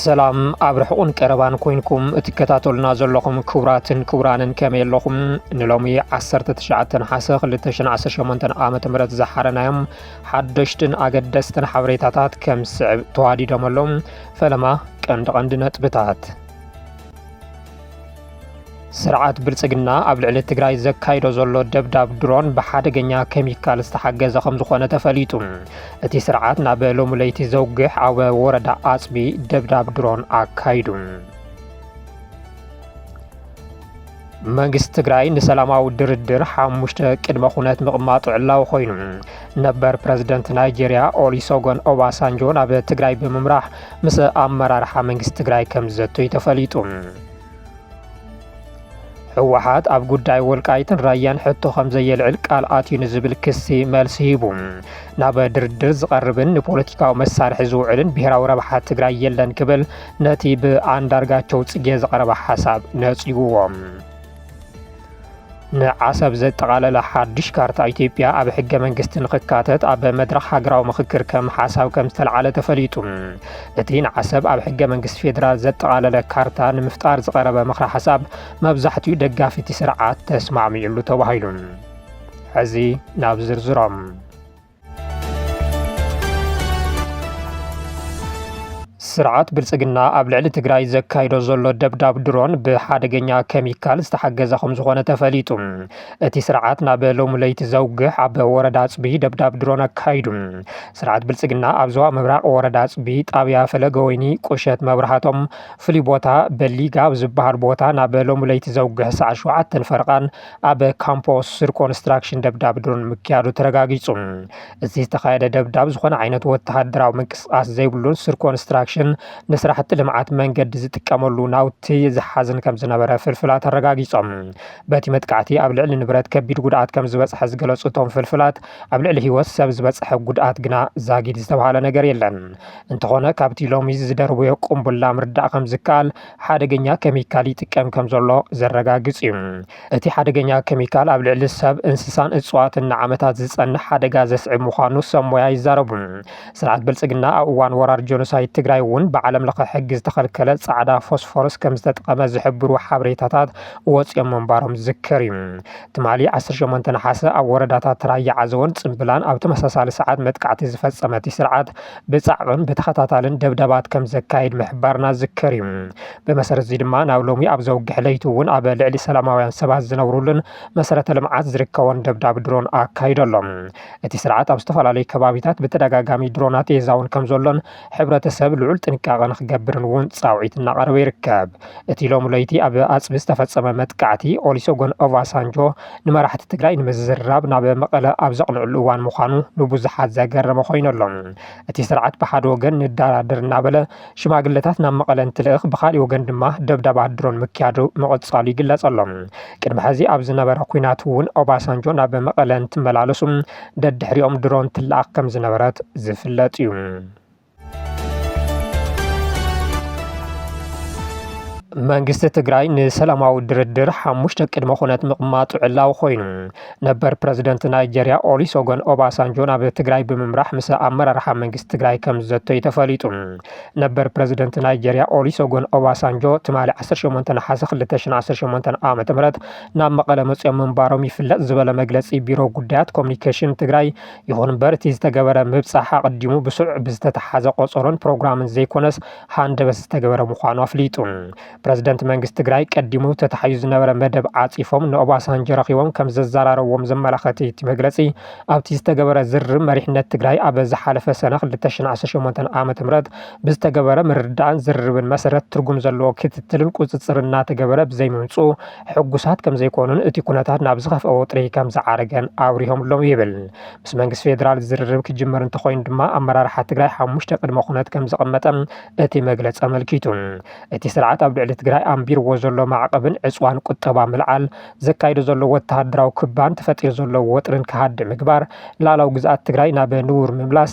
ሰላም ኣብ ርሑቕን ቀረባን ኮይንኩም እትከታተሉና ዘለኹም ክቡራትን ክቡራንን ከመይ ኣለኹም ንሎሚ 19 ነሓሰ 2018 ዓ ም ዝሓረናዮም ሓደሽትን ኣገደስትን ሓበሬታታት ከም ዝስዕብ ተዋዲዶም ኣለዉ ፈለማ ቀንዲ ቀንዲ ነጥብታት ስርዓት ብልፅግና ኣብ ልዕሊ ትግራይ ዘካይዶ ዘሎ ደብዳብ ድሮን ብሓደገኛ ኬሚካል ዝተሓገዘ ከም ዝኾነ ተፈሊጡ። እቲ ስርዓት ናብ ሎሚ ለይቲ ዘውግሕ ኣብ ወረዳ ኣፅቢ ደብዳብ ድሮን ኣካይዱ። መንግስቲ ትግራይ ንሰላማዊ ድርድር ሓሙሽተ ቅድመ ኩነት ምቕማጡ ዕላዊ ኮይኑ ነበር ፕረዚደንት ናይጀርያ ኦሊሶጎን ኦባሳንጆ ናብ ትግራይ ብምምራሕ ምስ ኣመራርሓ መንግስቲ ትግራይ ከም ዝዘቱይ ተፈሊጡ። ህወሓት ኣብ ጉዳይ ወልቃይትን ራያን ሕቶ ከም ዘየልዕል ቃል ኣትዩ ንዝብል ክሲ መልሲ ሂቡ። ናብ ድርድር ዝቐርብን ንፖለቲካዊ መሳርሒ ዝውዕልን ብሔራዊ ረብሓ ትግራይ የለን ክብል ነቲ ብኣንዳርጋቸው ጽጌ ዝቐረበ ሓሳብ ነጺጉዎም። ንዓሰብ ዘጠቓለለ ሓድሽ ካርታ ኢትዮጵያ ኣብ ሕገ መንግስቲ ንክካተት ኣብ መድረኽ ሃገራዊ ምክክር ከም ሓሳብ ከም ዝተልዓለ ተፈሊጡ። እቲ ንዓሰብ ኣብ ሕገ መንግስቲ ፌዴራል ዘጠቓለለ ካርታ ንምፍጣር ዝቐረበ ምክረ ሓሳብ መብዛሕትኡ ደጋፊ እቲ ስርዓት ተስማዕሚዑሉ ተባሂሉ። ሕዚ ናብ ዝርዝሮም ስርዓት ብልፅግና ኣብ ልዕሊ ትግራይ ዘካይዶ ዘሎ ደብዳብ ድሮን ብሓደገኛ ከሚካል ዝተሓገዘ ከም ዝኾነ ተፈሊጡ። እቲ ስርዓት ናብ ሎሚ ለይቲ ዘውግሕ ኣብ ወረዳ ኣፅቢ ደብዳብ ድሮን ኣካይዱ። ስርዓት ብልፅግና ኣብ ዞባ ምብራቕ ወረዳ ኣፅቢ ጣብያ ፈለገ ወይኒ ቁሸት መብራህቶም ፍሉይ ቦታ በሊጋ ኣብ ዝበሃል ቦታ ናብ ሎሚ ለይቲ ዘውግሕ ሰዓት ሸውዓተን ፈርቓን ኣብ ካምፖ ሱር ኮንስትራክሽን ደብዳብ ድሮን ምክያዱ ተረጋጊጹ። እዚ ዝተኻየደ ደብዳብ ዝኾነ ዓይነት ወተሃደራዊ ምንቅስቓስ ዘይብሉን ሱር ኮንስትራክሽን ንስራሕቲ ልምዓት መንገዲ ዝጥቀመሉ ናውቲ ዝሓዝን ከም ዝነበረ ፍልፍላት ኣረጋጊጾም። በቲ መጥቃዕቲ ኣብ ልዕሊ ንብረት ከቢድ ጉድኣት ከም ዝበጽሐ ዝገለጹ እቶም ፍልፍላት፣ ኣብ ልዕሊ ህይወት ሰብ ዝበጽሐ ጉድኣት ግና ዛጊድ ዝተብሃለ ነገር የለን። እንተኾነ ካብቲ ሎሚ ዝደርበዮ ቁምቡላ ምርዳእ ከም ዝከኣል፣ ሓደገኛ ከሚካል ይጥቀም ከምዘሎ ዘረጋግጽ እዩ። እቲ ሓደገኛ ከሚካል ኣብ ልዕሊ ሰብ፣ እንስሳን እጽዋትን ንዓመታት ዝጸንሕ ሓደጋ ዘስዕብ ምዃኑ ሰብ ሞያ ይዛረቡ። ስርዓት ብልጽግና ኣብ እዋን ወራር ጆኖሳይድ ትግራይ እውን ብዓለም ለኸ ሕጊ ዝተኸልከለ ጻዕዳ ፎስፎረስ ከምዝተጥቐመ ዝሕብሩ ሓበሬታታት ወጺኦም ምንባሮም ዝዝከር እዩ። ትማሊ ዓሰርተ ሸሞንተ ነሓሰ ኣብ ወረዳታት ራያ ዓዘቦን ጽምብላን ኣብ ተመሳሳሊ ሰዓት መጥቃዕቲ ዝፈጸመ እቲ ስርዓት ብጻዕቕን ብተኸታታልን ደብዳባት ከም ዘካይድ ምሕባርና ዝከር እዩ። ብመሰረት እዚ ድማ ናብ ሎሚ ኣብ ዘውግሕ ለይቲ እውን ኣብ ልዕሊ ሰላማውያን ሰባት ዝነብሩሉን መሰረተ ልምዓት ዝርከቦን ደብዳብ ድሮን ኣካይዶ ኣሎ። እቲ ስርዓት ኣብ ዝተፈላለዩ ከባቢታት ብተደጋጋሚ ድሮናት የዛውን ከም ዘሎን ሕብረተሰብ ልዑል ጥንቃቐ ንክገብርን እውን ጻውዒት እናቐረበ ይርከብ። እቲ ሎሚ ለይቲ ኣብ ኣፅቢ ዝተፈፀመ መጥቃዕቲ ኦሊሶጎን ኦቫሳንጆ ንመራሕቲ ትግራይ ንምዝርራብ ናብ መቐለ ኣብ ዘቕንዕሉ እዋን ምዃኑ ንብዙሓት ዘገረመ ኮይኑ ኣሎ። እቲ ስርዓት ብሓደ ወገን ንደራደር እናበለ ሽማግለታት ናብ መቐለ እንትልእኽ ብኻሊእ ወገን ድማ ደብዳባት ድሮን ምክያዱ ምቕፃሉ ይግለፅ ኣሎ። ቅድሚ ሕዚ ኣብ ዝነበረ ኲናት እውን ኦባሳንጆ ናብ መቐለ እንትመላለሱ ደድሕሪኦም ድሮን ትለኣኽ ከምዝነበረት ዝፍለጥ እዩ። መንግስቲ ትግራይ ንሰላማዊ ድርድር ሓሙሽተ ቅድመ ኩነት ምቕማጡ ዕላዊ ኮይኑ ነበር ፕረዚደንት ናይጀርያ ኦሊሶጎን ኦባሳንጆ ናብ ትግራይ ብምምራሕ ምስ ኣመራርሓ መንግስቲ ትግራይ ከም ዝዘተዩ ተፈሊጡ። ነበር ፕረዚደንት ናይጀርያ ኦሊሶጎን ኦባሳንጆ ትማሊ 18 ነሓሰ 2018 ዓ ም ናብ መቐለ መፅኦም ምንባሮም ይፍለጥ ዝበለ መግለፂ ቢሮ ጉዳያት ኮሚኒኬሽን ትግራይ ይኹን እምበር እቲ ዝተገበረ ምብፃሕ ኣቐዲሙ ብስሩዕ ብዝተተሓዘ ቆፀሮን ፕሮግራምን ዘይኮነስ ሃንደበት ዝተገበረ ምዃኑ ኣፍሊጡ። ፕረዚደንት መንግስቲ ትግራይ ቀዲሙ ተታሒዙ ዝነበረ መደብ ዓፂፎም ንኦባሳንጆ ረኺቦም ከም ዘዘራረብዎም ዘመላኸት እቲ መግለፂ ኣብቲ ዝተገበረ ዝርርብ መሪሕነት ትግራይ ኣብ ዝሓለፈ ሰነ ክልተ ሽሕን ዓሰርተ ሸሞንተን ዓመተ ምህረት ብዝተገበረ ምርድዳእን ዝርርብን መሰረት ትርጉም ዘለዎ ክትትልን ቁፅፅርን እናተገበረ ብዘይምምፅኡ ሕጉሳት ከምዘይኮኑን እቲ ኩነታት ናብ ዝኸፍኣ ወጥሪ ከምዝዓረገን ኣብሪሆምሎም ይብል። ምስ መንግስቲ ፌዴራል ዝርርብ ክጅመር እንተኾይኑ ድማ ኣመራርሓ ትግራይ ሓሙሽተ ቅድመ ኩነት ከምዘቐመጠ እቲ መግለፂ ኣመልኪቱ። እቲ ስርዓት ኣብ ልዕሊ ትግራይ ኣንቢርዎ ዘሎ ማዕቐብን ዕፅዋን ቁጠባ ምልዓል፣ ዘካይዶ ዘሎ ወተሃደራዊ ክባን ተፈጢሩ ዘሎ ወጥሪን ክሃድእ ምግባር፣ ልኣላዊ ግዝኣት ትግራይ ናብ ንቡር ምምላስ፣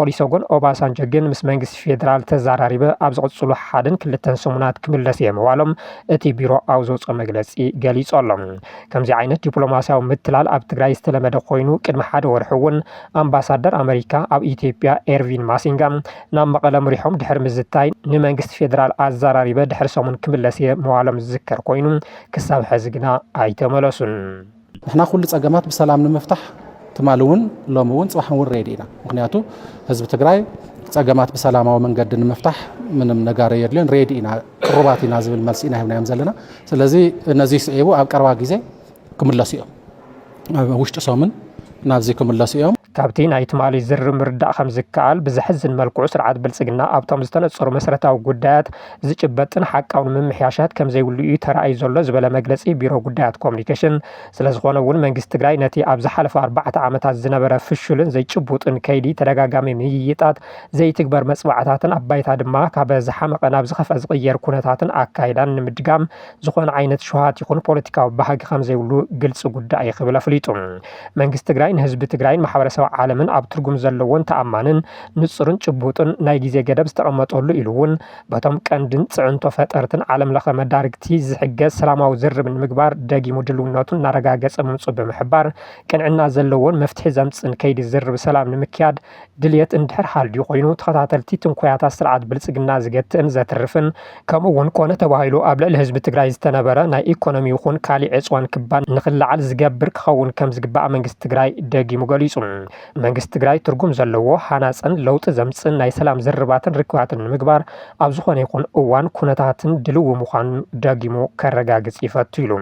ኦሊሰጎን ኦባሳንጆ ግን ምስ መንግስቲ ፌደራል ተዘራሪበ ኣብ ዝቕፅሉ ሓደን ክልተን ሰሙናት ክምለስ እየ ምባሎም እቲ ቢሮ ኣብ ዘውፅኦ መግለፂ ገሊፁ ኣሎ። ከምዚ ዓይነት ዲፕሎማሲያዊ ምትላል ኣብ ትግራይ ዝተለመደ ኮይኑ ቅድሚ ሓደ ወርሒ እውን ኣምባሳደር ኣመሪካ ኣብ ኢትዮጵያ ኤርቪን ማሲንጋ ናብ መቐለ ምሪሖም ድሕሪ ምዝታይ ንመንግስቲ ፌደራል ኣዘራሪበ ድሕሪ ሰሙን ክምለስ እየ ምባሎም ዝዝከር ኮይኑ ክሳብ ሕዚ ግና ኣይተመለሱን። ንሕና ኩሉ ፀገማት ብሰላም ንምፍታሕ ትማሊ እውን ሎሚ እውን ፅባሕ እውን ሬዲ ኢና ምክንያቱ ህዝቢ ትግራይ ፀገማት ብሰላማዊ መንገዲ ንምፍታሕ ምንም ነጋሪ የድልዮን ሬዲ ኢና ቅሩባት ኢና ዝብል መልሲ ኢና ሂብናዮም ዘለና ስለዚ ነዚ ስዒቡ ኣብ ቀረባ ግዜ ክምለሱ እዮም ኣብ ውሽጢ ሶምን ናብዚ ክምለሱ እዮም ካብቲ ናይ ትማሊ ዝርርብ ምርዳእ ከም ዝከኣል ብዘሕዝን መልክዑ ስርዓት ብልፅግና ኣብቶም ዝተነፀሩ መሰረታዊ ጉዳያት ዝጭበጥን ሓቃውን ምምሕያሻት ከምዘይብሉ ኢዩ ተራእዩ ዘሎ ዝበለ መግለፂ ቢሮ ጉዳያት ኮሙኒኬሽን ስለዝኾነ እውን መንግስቲ ትግራይ ነቲ ኣብ ዝሓለፉ ኣርባዕተ ዓመታት ዝነበረ ፍሹልን ዘይጭቡጥን ከይዲ ተደጋጋሚ ምይይጣት፣ ዘይትግበር መፅብዓታትን ኣብ ባይታ ድማ ካብ ዝሓመቐ ናብ ዝኸፍኣ ዝቕየር ኩነታትን ኣካይዳን ንምድጋም ዝኾነ ዓይነት ሸውሃት ይኹን ፖለቲካዊ ባህጊ ከምዘይብሉ ግልፂ ጉዳይ ኢዩ ክብል ኣፍሊጡ። መንግስቲ ትግራይ ንህዝቢ ትግራይን ማሕበረሰብ ዓለምን ኣብ ትርጉም ዘለዎን ተኣማንን፣ ንፁርን ጭቡጥን ናይ ግዜ ገደብ ዝተቐመጠሉ ኢሉ እውን በቶም ቀንድን ፅዕንቶ ፈጠርትን ዓለም ለኸ መዳርግቲ ዝሕገዝ ሰላማዊ ዝርርብ ንምግባር ደጊሙ ድልውነቱ እናረጋገፀ ምምፅኡ ብምሕባር ቅንዕና ዘለዎን መፍትሒ ዘምፅእን ከይዲ ዝርርብ ሰላም ንምክያድ ድልየት እንድሕር ሃልዩ ኮይኑ ተኸታተልቲ ትንኮያታት ስርዓት ብልፅግና ዝገትእን ዘትርፍን ከምኡ እውን ኮነ ተባሂሉ ኣብ ልዕሊ ህዝቢ ትግራይ ዝተነበረ ናይ ኢኮኖሚ ይኹን ካሊእ ዕፅዋን ክባን ንክለዓል ዝገብር ክኸውን ከምዝግባእ መንግስቲ ትግራይ ደጊሙ ገሊፁ። መንግስቲ ትግራይ ትርጉም ዘለዎ፣ ሃናፅን ለውጢ ዘምፅእን ናይ ሰላም ዝርርባትን ርክባትን ንምግባር ኣብ ዝኾነ ይኹን እዋን ኩነታትን ድልዊ ምዃኑ ደጊሙ ከረጋግፅ ይፈቱ ኢሉ።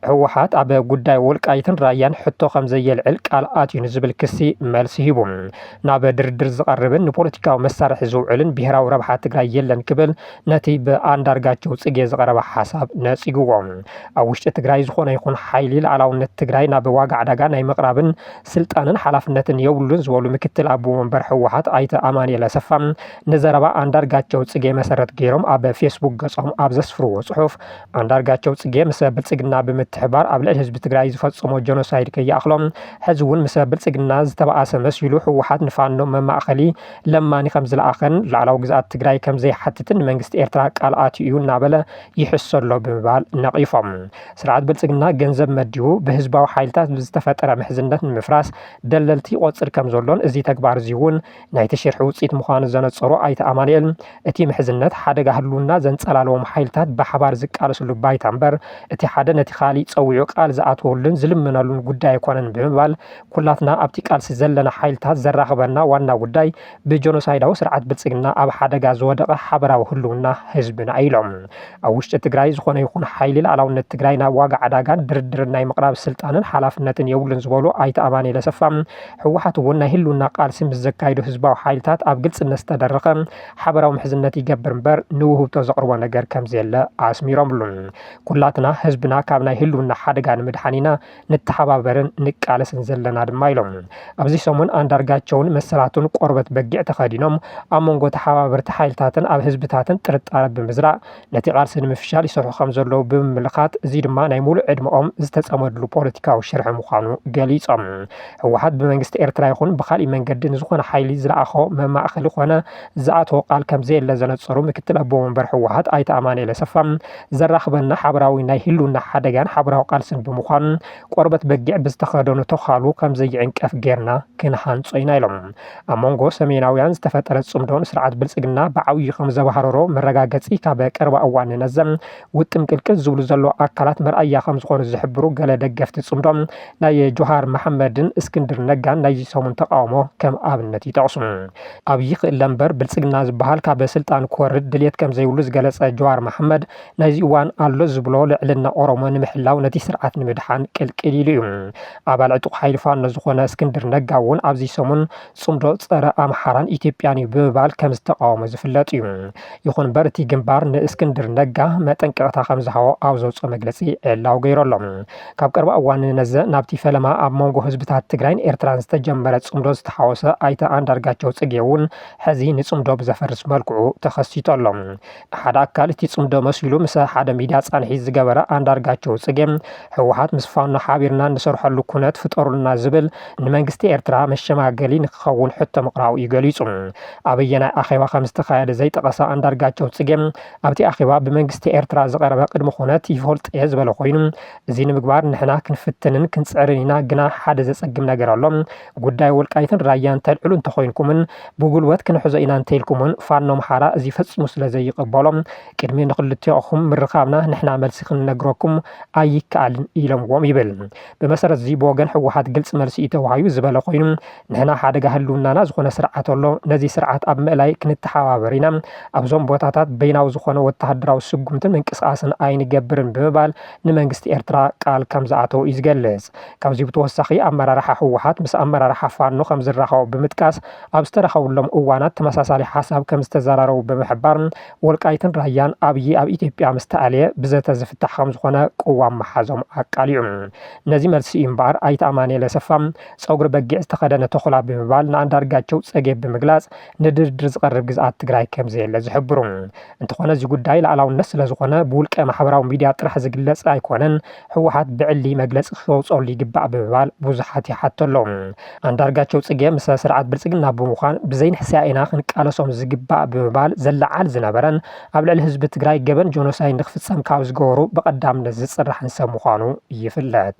ህወሓት ኣብ ጉዳይ ወልቃይትን ራያን ሕቶ ከም ዘየልዕል ቃል ኣትዩ ንዝብል ክሲ መልሲ ሂቡ ናብ ድርድር ዝቐርብን ንፖለቲካዊ መሳርሒ ዝውዕልን ብሄራዊ ረብሓ ትግራይ የለን ክብል ነቲ ብኣንዳርጋቸው ፅጌ ዝቐረበ ሓሳብ ነፂግዎ ኣብ ውሽጢ ትግራይ ዝኾነ ይኹን ሓይሊ ላዕላውነት ትግራይ ናብ ዋጋ ዕዳጋ ናይ ምቕራብን ስልጣንን ሓላፍነትን የብሉን ዝበሉ ምክትል ኣቦ ወንበር ህወሓት ኣይተ ኣማንኤል ኣሰፋ ንዘረባ ኣንዳርጋቸው ፅጌ መሰረት ገይሮም ኣብ ፌስቡክ ገፆም ኣብ ዘስፍርዎ ፅሑፍ ኣንዳርጋቸው ፅጌ ምሰ ብልፅግና ብምትሕብባር ኣብ ልዕሊ ህዝቢ ትግራይ ዝፈፀሞ ጀኖሳይድ ከይኣኽሎ ሕዚ እውን ምሰ ብልፅግና ዝተበኣሰ መሲሉ ህወሓት ንፋኖ መማእኸሊ ለማኒ ከምዝለኣኸን ላዕላዊ ግዝኣት ትግራይ ከምዘይሓትትን ንመንግስቲ ኤርትራ ቃል ኣትዩ እዩ እናበለ ይሕሶ ኣሎ ብምባል ነቒፎም። ስርዓት ብልፅግና ገንዘብ መዲቡ ብህዝባዊ ሓይልታት ብዝተፈጠረ ምሕዝነት ንምፍራስ ደለልቲ ይቖፅር ከምዘሎን እዚ ተግባር እዚ እውን ናይቲ ሽርሒ ውፅኢት ምዃኑ ዘነፀሩ ኣይተ ኣማኑኤል፣ እቲ ምሕዝነት ሓደጋ ህልውና ዘንፀላለዎም ሓይልታት ብሓባር ዝቃለስሉ ባይታ እምበር እቲ ሓደ ነቲ ካሊእ ፀዊዑ ቃል ዝኣትወሉን ዝልምነሉን ጉዳይ ኣይኮነን ብምባል ኩላትና ኣብቲ ቃልሲ ዘለና ሓይልታት ዘራኽበና ዋና ጉዳይ ብጀኖሳይዳዊ ስርዓት ብልፅግና ኣብ ሓደጋ ዝወደቐ ሓበራዊ ህልውና ህዝብና እዩ ኢሎም። ኣብ ውሽጢ ትግራይ ዝኾነ ይኹን ሓይሊ ልኣላውነት ትግራይ ናብ ዋጋ ዕዳጋን ድርድርን ናይ ምቕራብ ስልጣንን ሓላፍነትን የብሉን ዝበሉ ኣይተ ኣማኑኤል ኣሰፋ፣ ህወሓት እውን ናይ ህልውና ቃልሲ ምስ ዘካይዱ ህዝባዊ ሓይልታት ኣብ ግልፅነት ዝተደረኸ ሓበራዊ ምሕዝነት ይገብር እምበር ንውህብቶ ዘቕርቦ ነገር ከምዘየለ ኣስሚሮምሉ። ኩላትና ህዝብና ካብ ናይ ህልውና ሓደጋ ንምድሓን ኢና ንተሓባበርን ንቃለስን ዘለና ድማ ኢሎም። ኣብዚ ሰሙን ኣንዳርጋቸውን መሰላቱን ቆርበት በጊዕ ተኸዲኖም ኣብ መንጎ ተሓባበርቲ ሓይልታትን ኣብ ህዝብታትን ጥርጣረ ብምዝራእ ነቲ ቃልሲ ንምፍሻል ይሰርሑ ከምዘለዉ ብምምልካት እዚ ድማ ናይ ሙሉእ ዕድመኦም ዝተፀመድሉ ፖለቲካዊ ሽርሒ ምዃኑ ገሊፆም። ህወሓት ብመንግስቲ ኤርትራ ይኹን ብኻሊእ መንገዲ ንዝኾነ ሓይሊ ዝለኣኾ መማእኸሊ ኮነ ዝኣተዎ ቃል ከምዘየለ ዘነፀሩ ምክትል ኣቦ ወንበር ህወሓት ኣይተ ኣማኒኤል ኣሰፋ ዘራኽበና ሓበራዊ ናይ ህልውና ሓደጋን ሓበራዊ ቃልስን ብምዃኑ ቆርበት በጊዕ ብዝተኸደኑ ተዃሉ ከምዘይዕንቀፍ ገይርና ክንሃንፆ ኢና ኢሎም። ኣብ መንጎ ሰሜናውያን ዝተፈጠረ ጽምዶ ንስርዓት ብልጽግና ብዓብዩ ከም ዘባህረሮ መረጋገጺ ካብ ቀረባ እዋን ነዘም ውጥም ቅልቅል ዝብሉ ዘሎ ኣካላት መርኣያ ከም ዝኾኑ ዝሕብሩ ገለ ደገፍቲ ጽምዶ ናይ ጆሃር መሓመድን እስክንድር ነጋን ናይዚ ሰሙን ተቃውሞ ከም ኣብነት ይጠቕሱ። ኣብይ ክእለ እምበር ብልጽግና ዝበሃል ካብ ስልጣን ክወርድ ድልየት ከም ዘይብሉ ዝገለጸ ጆሃር መሓመድ፣ ናይዚ እዋን ኣሎ ዝብሎ ልዕልና ኦሮሞ ንምሕላው ነቲ ስርዓት ንምድሓን ቅልቅል ኢሉ እዩ። ኣባል ዕጡቕ ሓይሊ ፋኖ ዝኾነ እስክንድር ነጋ እውን ኣብዚ ሰሙን ፅምዶ ፀረ ኣምሓራን ኢትዮጵያን እዩ ብምባል ከምዝተቓወሞ ዝፍለጥ እዩ። ይኹን እምበር እቲ ግንባር ንእስክንድር ነጋ መጠንቀቕታ ከምዝሃቦ ኣብ ዘውፅኦ መግለፂ ዕላዊ ገይሩ ኣሎ። ካብ ቀረባ እዋን ንነዘ ናብቲ ፈለማ ኣብ መንጎ ህዝብታት ትግራይን ኤርትራን ዝተጀመረ ፅምዶ ዝተሓወሰ ኣይተ ኣንዳርጋቸው ፅጌ እውን ሕዚ ንፅምዶ ብዘፈርስ መልክዑ ተኸሲቱ ኣሎ። ሓደ ኣካል እቲ ፅምዶ መሲሉ ምስ ሓደ ሚድያ ፃንሒት ዝገበረ ኣንዳርጋቸው ፅጌ ህወሓት ምስ ፋኖ ሓቢርና እንሰርሐሉ ኩነት ፍጠሩልና ዝብል ንመንግስቲ ኤርትራ መሸማገሊ ንክኸውን ሕቶ ምቕራቡ እዩ ገሊፁ። ኣበየናይ ኣኼባ ከምዝተኻየደ ዘይጠቐሰ ኣንዳርጋቸው ፅጌ ኣብቲ ኣኼባ ብመንግስቲ ኤርትራ ዝቐረበ ቅድመ ኩነት ይፈልጦ እየ ዝበለ ኮይኑ እዚ ንምግባር ንሕና ክንፍትንን ክንፅዕርን ኢና ግና ሓደ ዘፀግም ነገር ኣሎ ጉዳይ ወልቃይትን ራያን ተልዕሉ እንተኾይንኩምን ብጉልበት ክንሕዞ ኢና እንተኢልኩምን ፋኖ ኣምሓራ እዚ ፈፂሙ ስለዘይቕበሎ ቅድሚ ንክልቲኦኹም ምርኻብና ንሕና መልሲ ክንነግረኩም ኣይከኣልን ኢሎምዎም ይብል። ብመሰረት እዚ ብወገን ህወሓት ግልፂ መልሲ እዩ ተዋሂቡ ዝበለ ኮይኑ ንሕና ሓደጋ ህልውናና ዝኾነ ስርዓት ኣሎ ነዚ ስርዓት ኣብ ምእላይ ክንተሓባበር ኢና ኣብዞም ቦታታት በይናዊ ዝኾነ ወተሃደራዊ ስጉምትን ምንቅስቓስን ኣይንገብርን ብምባል ንመንግስቲ ኤርትራ ቃል ከምዝኣተወ እዩ ዝገልፅ። ካብዚ ብተወሳኺ ኣመራርሓ ህወሓት ምስ ኣመራርሓ ፋኖ ከምዝራኸቡ ብምጥቃስ ኣብ ዝተራኸብሎም እዋናት ተመሳሳሊ ሓሳብ ከምዝተዘራረቡ ብምሕባር ወልቃይትን ራያን ኣብዪ ኣብ ኢትዮጵያ ምስተኣልየ ብዘተ ዝፍታሕ ከምዝኾነ ቅዋም ምሓዞም ኣቃሊዑ። ነዚ መልሲ እዩ እምበኣር ኣይተ ኣማኒኤል ኣሰፋ ፀጉሪ በጊዕ ዝተኸደነ ተኹላ ብምባል ንኣንዳርጋቸው ፀገብ ብምግላፅ ንድርድር ዝቐርብ ግዝኣት ትግራይ ከምዘየለ ዝሕብሩ እንትኾነ እዚ ጉዳይ ላእላውነት ስለዝኾነ ብውልቀ ማሕበራዊ ሚድያ ጥራሕ ዝግለፅ ኣይኮነን ህወሓት ብዕሊ መግለፂ ክተውፀሉ ይግባእ ብምባል ብዙሓት ይሓቱ ኣለው። ኣንዳርጋቸው ፅጌ ምሰ ስርዓት ብልፅግና ብምዃን ብዘይንሕስያ ኢና ክንቃለሶም ዝግባእ ብምባል ዘለዓዕል ዝነበረን ኣብ ልዕሊ ህዝቢ ትግራይ ገበን ጆኖሳይድ ንክፍፀም ካብ ዝገበሩ ብቐዳምነት ዝፅራሕን ሰብ ምዃኑ ይፍለጥ።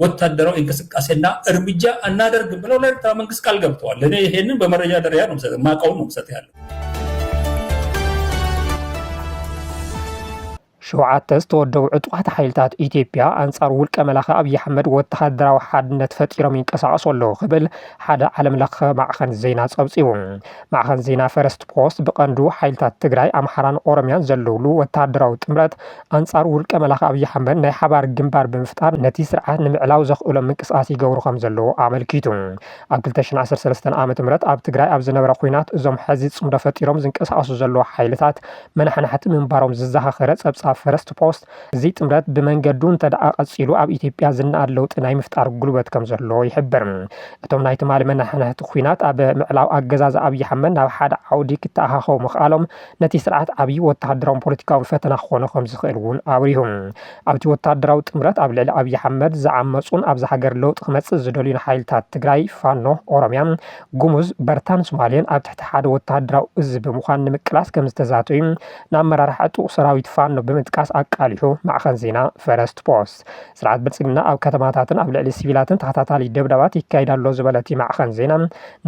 ወታደራዊ እንቅስቃሴና እርምጃ አናደርግም ብለው ለኤርትራ መንግስት ቃል ገብተዋል። እኔ ይሄንን በመረጃ ደረጃ ነው ምሰጥ ማቀውን ነው ምሰጥ ያለው። ሸውዓተ ዝተወደቡ ዕጡቓት ሓይልታት ኢትዮጵያ ኣንጻር ውልቀ መላኺ ኣብዪ ኣሕመድ ወተሃደራዊ ሓድነት ፈጢሮም ይንቀሳቐሱ ኣለዉ ክብል ሓደ ዓለም ለኸ ማዕኸን ዜና ጸብጺቡ። ማዕኸን ዜና ፈረስት ፖስት ብቐንዱ ሓይልታት ትግራይ፣ ኣምሓራን ኦሮምያን ዘለውሉ ወተሃደራዊ ጥምረት ኣንጻር ውልቀ መላኺ ኣብይ ኣሕመድ ናይ ሓባር ግንባር ብምፍጣር ነቲ ስርዓት ንምዕላው ዘኽእሎም ምንቅስቓስ ይገብሩ ከምዘለዉ ኣመልኪቱ። ኣብ ክልተ ሽሕን ዓሰርተ ሰለስተን ዓመተ ምህረት ኣብ ትግራይ ኣብ ዝነበረ ኹናት እዞም ሕዚ ፅምዶ ፈጢሮም ዝንቀሳቐሱ ዘለዉ ሓይልታት መናሕናሕቲ ምንባሮም ዝዘኻኸረ ፀብፃብ ፈረስት ፖስት እዚ ጥምረት ብመንገዱ እንተድኣ ቀፂሉ ኣብ ኢትዮጵያ ዝነኣድ ለውጢ ናይ ምፍጣር ጉልበት ከምዘለዎ ይሕብር። እቶም ናይ ትማሊ መናሕናሕቲ ኹናት ኣብ ምዕላው ኣገዛዝኣ ኣብይ ኣሕመድ ናብ ሓደ ዓውዲ ክተኣኻኸቡ ምኽኣሎም ነቲ ስርዓት ዓብዪ ወተሃደራውን ፖለቲካውን ፈተና ክኾኖ ከምዝኽእል እውን ኣብሪሁ። ኣብቲ ወተሃደራዊ ጥምረት ኣብ ልዕሊ ኣብዪ ኣሕመድ ዝዓመፁን ኣብዛ ሃገር ለውጢ ክመፅእ ዝደልዩን ሓይልታት ትግራይ፣ ፋኖ፣ ኦሮሚያ፣ ጉሙዝ፣ በርታን ሱማሌን ኣብ ትሕቲ ሓደ ወተሃደራዊ እዝ ብምዃን ንምቅላስ ከምዝተዛተዩ ንኣመራርሓ ዕጡቕ ሰራዊት ፋኖ ብምጥቃስ ኣቃሊሑ ማዕኸን ዜና ፈረስት ፖስት። ስርዓት ብልፅግና ኣብ ከተማታትን ኣብ ልዕሊ ሲቪላትን ተኸታታሊ ደብዳባት ይካየድ ኣሎ ዝበለ እቲ ማዕኸን ዜና፣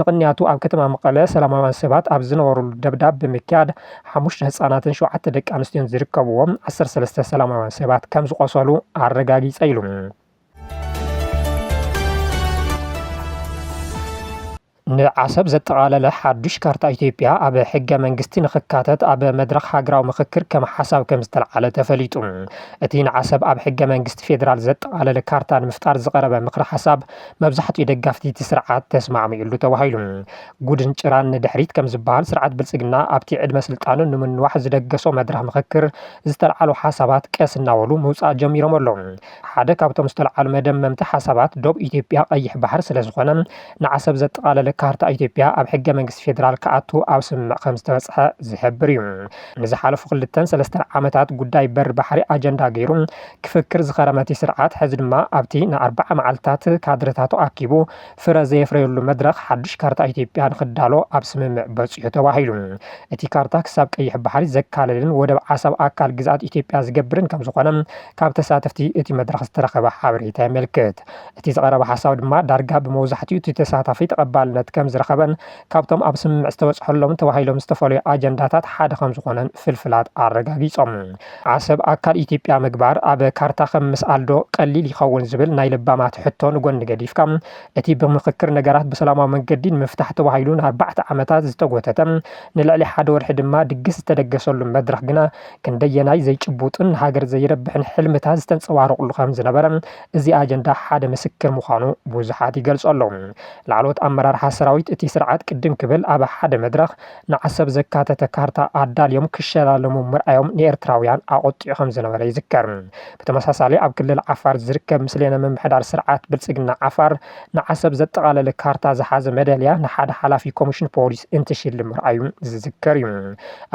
ንቕንያቱ ኣብ ከተማ መቐለ ሰላማውያን ሰባት ኣብ ዝነበርሉ ደብዳብ ብምክያድ ሓሙሽተ ህፃናትን ሸውዓተ ደቂ ኣንስትዮን ዝርከብዎም ዓሰርተ ሰለስተ ሰላማውያን ሰባት ከምዝቖሰሉ ኣረጋጊፀ ኢሉ። ንዓሰብ ዘጠቓለለ ሓዱሽ ካርታ ኢትዮጵያ ኣብ ሕገ መንግስቲ ንኽካተት ኣብ መድረኽ ሃገራዊ ምኽክር ከም ሓሳብ ከምዝተልዓለ ተፈሊጡ። እቲ ንዓሰብ ኣብ ሕገ መንግስቲ ፌዴራል ዘጠቓለለ ካርታ ንምፍጣር ዝቐረበ ምኽረ ሓሳብ መብዛሕትኡ ደጋፍቲ እቲ ስርዓት ተስማዕሚዑሉ ተባሂሉ። ጉድን ጭራን ንድሕሪት ከምዝበሃል ስርዓት ብልፅግና ኣብቲ ዕድመ ስልጣኑ ንምንዋሕ ዝደገሶ መድረኽ ምኽክር ዝተልዓሉ ሓሳባት ቀስ እናበሉ ምውፃእ ጀሚሮም ኣለው። ሓደ ካብቶም ዝተልዓሉ መደመምቲ ሓሳባት ዶብ ኢትዮጵያ ቀይሕ ባሕሪ ስለዝኾነ ንዓሰብ ዘጠቓለለ ካርታ ኢትዮጵያ ኣብ ሕገ መንግስቲ ፌዴራል ክኣቱ ኣብ ስምምዕ ከምዝተበፅሐ ዝሕብር እዩ። ንዝሓለፉ ክልተን ሰለስተን ዓመታት ጉዳይ በሪ ባሕሪ ኣጀንዳ ገይሩ ክፍክር ዝኸረመቲ ስርዓት ሕዚ ድማ ኣብቲ ንኣርብዓ መዓልትታት ካድረታቱ ኣኪቡ ፍረ ዘየፍረየሉ መድረኽ ሓዱሽ ካርታ ኢትዮጵያ ንኽዳሎ ኣብ ስምምዕ በፂሑ ተባሂሉ። እቲ ካርታ ክሳብ ቀይሕ ባሕሪ ዘካልልን ወደብ ዓሰብ ኣካል ግዝኣት ኢትዮጵያ ዝገብርን ከምዝኾነ ካብ ተሳተፍቲ እቲ መድረኽ ዝተረኸበ ሓበሬታ የመልክት። እቲ ዝቐረበ ሓሳብ ድማ ዳርጋ ብመውዛሕቲኡ እቲ ተሳታፊ ተቐባልነት ከምዝረኸበን ካብቶም ኣብ ስምምዕ ዝተበፅሐሎም ተባሂሎም ዝተፈለዩ ኣጀንዳታት ሓደ ከምዝኾነን ፍልፍላት ኣረጋጊፆም። ዓሰብ ኣካል ኢትዮጵያ ምግባር ኣብ ካርታ ከም ምስኣል ዶ ቀሊል ይኸውን ዝብል ናይ ለባማት ሕቶ ንጎኒ ገዲፍካ፣ እቲ ብምኽክር ነገራት ብሰላማዊ መንገዲ ንምፍታሕ ተባሂሉ ንኣርባዕተ ዓመታት ዝተጎተተ፣ ንልዕሊ ሓደ ወርሒ ድማ ድግስ ዝተደገሰሉ መድረኽ ግና ክንደየናይ ዘይጭቡጥን ንሃገር ዘይረብሕን ሕልምታት ዝተንፀባረቑሉ ከምዝነበረ እዚ ኣጀንዳ ሓደ ምስክር ምዃኑ ብዙሓት ይገልጹ ኣለዉ። ላዕለዎት ኣመራርሓ ሰራዊት እቲ ስርዓት ቅድም ክብል ኣብ ሓደ መድረኽ ንዓሰብ ዘካተተ ካርታ ኣዳልዮም ክሸላለሙ ምርኣዮም ንኤርትራውያን ኣቖጢዑ ከምዝነበረ ይዝከር። ብተመሳሳሊ ኣብ ክልል ዓፋር ዝርከብ ምስሌነ ምምሕዳር ስርዓት ብልጽግና ዓፋር ንዓሰብ ዘጠቓለለ ካርታ ዝሓዘ መዳልያ ንሓደ ሓላፊ ኮሚሽን ፖሊስ እንትሽልም ምርኣዩ ዝዝከር እዩ።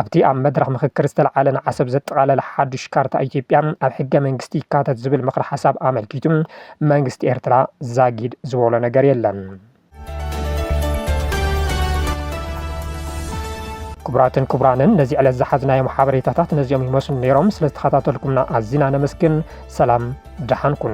ኣብቲ ኣብ መድረኽ ምኽክር ዝተልዓለ ንዓሰብ ዘጠቓለለ ሓዱሽ ካርታ ኢትዮጵያ ኣብ ሕገ መንግስቲ ይካተት ዝብል ምኽረ ሓሳብ ኣመልኪቱ መንግስቲ ኤርትራ ዛጊድ ዝበሎ ነገር የለን። ክቡራትን ክቡራንን ነዚ ዕለት ዝሓዝናዮም ሓበሬታታት ነዚኦም ይመስሉ ነይሮም። ስለዝተኸታተልኩምና ኣዚና ነመስግን። ሰላም ደሓን ኩኑ።